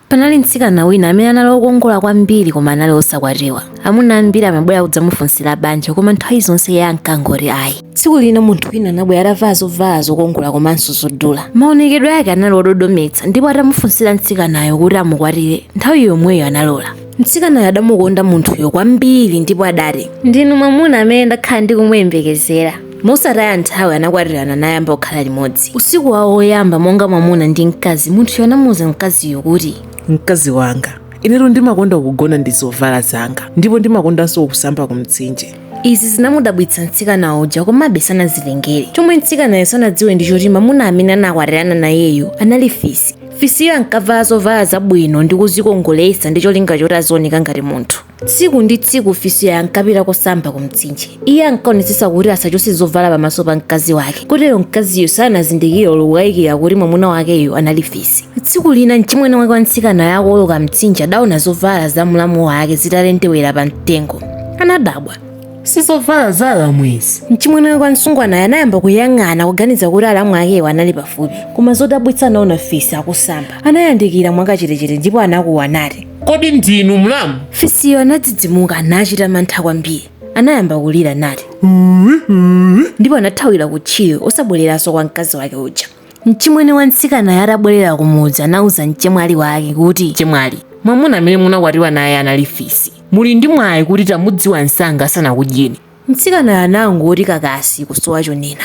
Panali mtsikana wina amene anali wokongola kwambiri koma anali wosakwatiwa. Amuna ambiri amabwera kudzamufunsira banja koma nthawi zonse iye ankangoti ayi. Tsiku lina munthu wina anabwera atavala zovala zokongola komanso zodula. Maonekedwe ake anali ododometsa ndipo atamufunsira mtsikanayo kuti amukwatire, nthawi yomweyo analola. Mtsikanayo adamukonda munthuyo kwambiri ndipo adati, Ndinu mwamuna amene ndakhala ndikumuyembekezera. mosataya nthawi anakwatirana nayamba kukhala limodzi usiku wawo woyamba monga mwamuna ndi mkazi munthuyo anamuwuza mkaziyo kuti mkazi wanga inetu ndimakonda kugona ndi zovala zanga ndipo ndimakondanso kusamba ku mtsinje izi zinamudabwitsa mtsikana uja komabe sanazilengere chomwe mtsikanayo sanadziwe ndi choti mamuna amene anakwatirana nayeyo anali fisi fisiyo ankavala zovala zabwino ndi kuzikongoletsa ndi cholinga choti azioneka ngati munthu Tsiku ndi tsiku Fisiyo ankapita kosamba kumtsinje. Iye ankaonetsetsa kuti asachotse zovala pamaso pa mkazi wake, kotero mkaziyo sanazindikire olo kukayikira kuti mwamuna wakeyo anali Fisi. Tsiku lina mchimwene wake wa mtsikanayo akuwoloka mtsinje adaona zovala za mlamu wake zitalendewera pa mtengo. Anadabwa. Si zovala za alamu izi? Mchimwene wake wa msungwanayo anayamba kuyang'ana kuganiza kuti alamu akewo anali pafupi, koma zodabwitsa anaona Fisi akusamba. Anayandikira mwakachetechete ndipo anakuwa nati, Kodi ndinu mlamu? Fisiyo anadzidzimuka nachita mantha kwambiri. Anayamba kulira nati, ndipo anathawira kutchire osabwereranso kwa mkazi wake uja. Mchimwene wa mtsikanayo atabwerera kumudzi anauza mchemwali wake kuti, Chemwali, mwamuna amene munakwatiwa naye anali fisi. Muli ndi mwayi kuti tamudziwa msanga asanakudyeni. Mtsikanayo anangoti kakasi kusowa chonena.